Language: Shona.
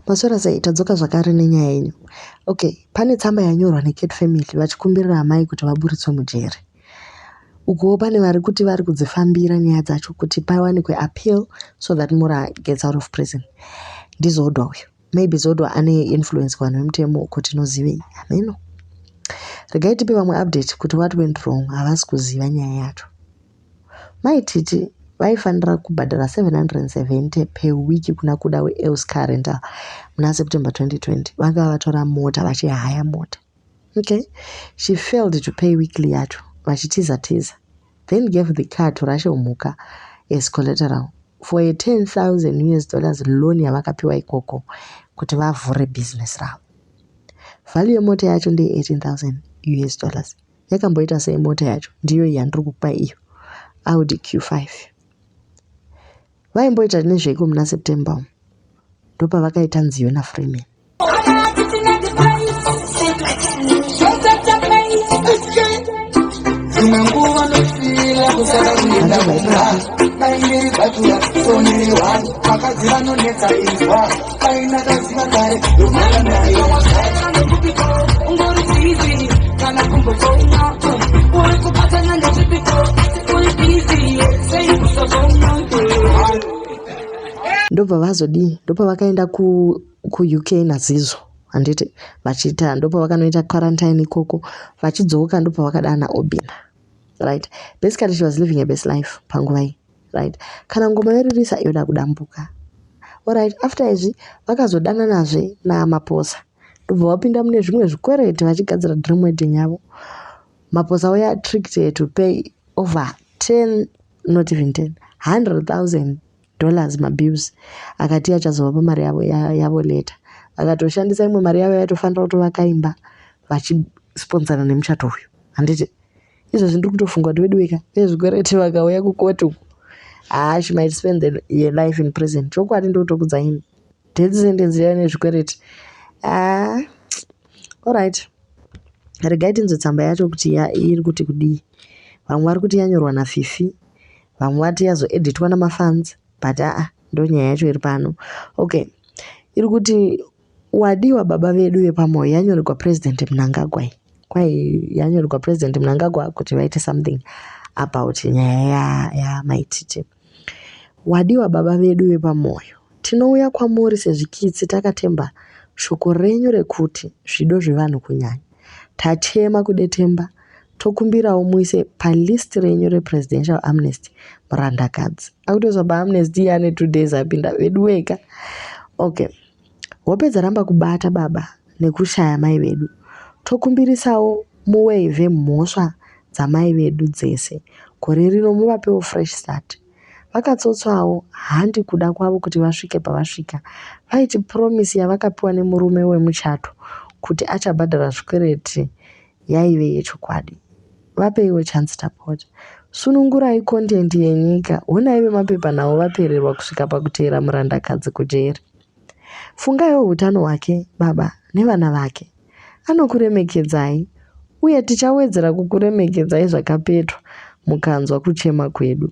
Maswera sei tadzoka zvakare nenyaya yenyu. Okay, pane tsamba yanyorwa neCat family vachikumbirira amai kuti vaburitswe mujeri. Ukuwo pane vari kuti vari kudzifambira nyaya dzacho kuti pawanikwe appeal so that Mura gets out of prison. NdiZodwa uyu. Maybe Zodwa ane influence kuvanhu vemutemo uko tinozivei. Hameno. Regai tipe vamwe update kuti what went wrong havasi kuziva nyaya yacho. Mai Titi vaifanira kubhadhara 770 per week kuna Kuda weElls Car Rental muna September 2020. Vanga vatora mota vachihaya mota. Okay. She failed to pay weekly yacho vachitiza tiza then gave the car to Rashe Mhuka as collateral for a 10,000 US dollars loan yavakapiwa ikoko kuti vavhure business ravo. Value yemota yacho ndeye 18,000 US dollars. Yakamboita sei mota yacho? Ndiyo iyi yandiri kukupa iyo. Audi Q5. Vaimboita nezveiko muna September umu? Ndopavakaita nziyo naFreeman. ndobva vazodii ndopa vakaenda kuuk nazizvo handiti vachiita ndopa vakanoita quarantine ikoko vachidzoka ndopa vakadana obina right basically she was living a best life panguva iyi right kana ngoma yoririsa yoda kudambuka orit after izvi vakazodananazve namaposa ndobva vapinda mune zvimwe zvikwereti vachigadzira dream wedding yavo maposa were attracted to pay over 10 not even 10 100000 dollars mabills akati achazova pamari yavo yavo later vakatoshandisa imwe mari yavo yaitofanira kutovakaimba vachisponsana nemuchato uyu handiti izvozvi ndiri kutofunga kuti veduwe ka vezvikwereti vakauya kukoti uku haa she might spend the, your life in prison chokwadi ndotokudza ini death sentence yaiva nezvikwereti haa allright regai tinzwe tsamba yacho kuti iri kuti kudii vamwe vari kuti yanyorwa nafifi vamwe vati yazoeditwa namafans but aa ndonyaya yacho iri pano okay iri kuti Wadiwa baba vedu vepamoyo yanyorerwa president Mnangagwa iyi kwai yanyorerwa president Mnangagwa kuti vaite something about nyaya yamai Titi. Wadiwa baba vedu vepamoyo tinouya kwamuri sezvikitsi takatemba shoko renyu rekuti zvido zvevanhu kunyanya. Tachema kudetemba tokumbirawo muise palist renyu represidential amnesty murandakadzi. Akutozwa paamnesty ane two days apinda veduweka. Okay. Wapedza ramba kubata baba nekushaya mai vedu. Tokumbirisawo mu waive mhosva dzamai vedu dzese gore rino muvapewo fresh start. Vakatsotswawo handi kuda kwavo kuti vasvike pavasvika. Vaiti promise yavakapiwa nemurume wemuchato kuti achabhadhara zvikwereti yaive yechokwadi. Vapeiwo chance tapota. Sunungurai content yenyika. Honai vemapepanhau vapererwa kusvika pakuteera murandakadzi kujeri. Fungaiwo hutano hwake baba nevana vake. Anokuremekedzai uye tichawedzera kukuremekedzai zvakapetwa mukanzwa kuchema kwedu.